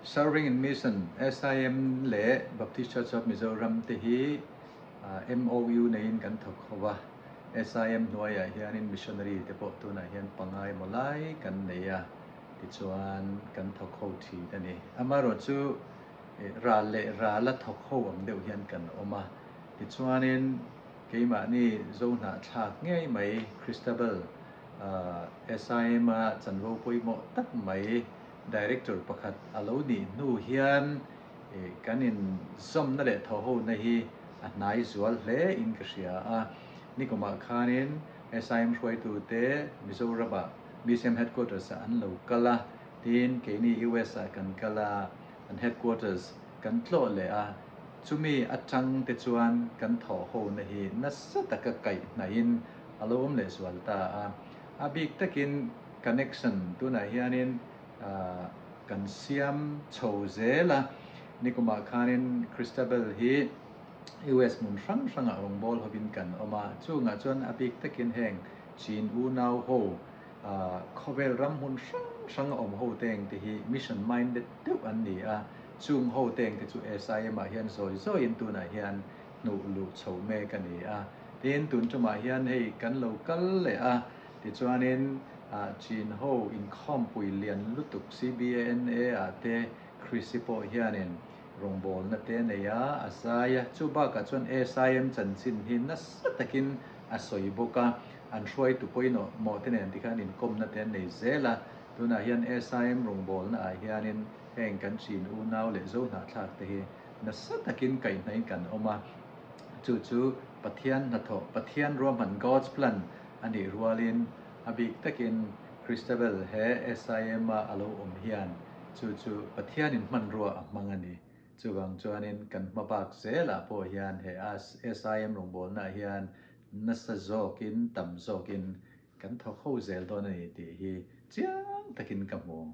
Serving in Mission, SIM, leh Baptist Church of Mizoram te hi MOU neiin kan thawk ho va, SIM hnuaiah hianin missionary te pawh tunah hian panga emaw lai kan nei a, tichuan kan thawk ho thin a ni. Amaherawh chu ral leh rala thawk ho ang deuh hian kan awm a, tichuanin keimahni zo hnahthlak ngei mai Christabel, SIM-a chanvo pawimawh tak mai Director pakhat a lo nih hnu hian kan inzawmna leh thohona hi a hnai zual hle in ka hria a. Nikumah khanin SIM hruaitu te Mizorama Museum Headquarters ah an lo kal a, tin keini US ah kan kal a, an Headquarters kan tlawh leh a, chumi atang te chuan kan thohona hi nasa taka kaih hnai in a lo awm leh zual ta a. A bik takin. Connection tunah hianin kan siam chho zel a, nikumah khanin Christabel hi US hmun hrang hrangah rawngbâwl hovin kan awm a, chungah chuan a bik takin heng Chin unau ho, khawvêl ram hmun hrang hranga awm hote ang te hi mission minded deuh an ni a, chung hote ang te chu SIM ah hian zawi zawiin tunah hian hnuh luh chho mêk a ni a, tin tun ṭumah hian hei kan lo kal leh a, Tichuanin Chin ho inkhawmpui lian lutuk CBNA-a te Chrissy pawh hianin rawngbawlna te a nei a, a zai a. Chu bakah chuan SIM chanchin hi nasa takin a sawi bawk a, an hruaitu pawimawh mawh te nen tikhan inkawmna te an nei zel a. Tunah hian SIM rawngbawlnaah hianin heng kan Chin unau leh Zohnahthlak te hi nasa takin kaihhnaiin kan awm a. chu chu Pathian hnathawh, Pathian ruahman, God's plan, a nih rualin a bik takin Christabel he SIM-a a lo awm hian chu chu Pathianin hmanrua a hmang a ni. Chuvang chuanin kan hma bak zelah pawh hian he SIM rawngbawlnah hian nasa zawkin, tam zawkin kan thawk ho zel dawn a ni tih hi chiang takin ka hmu.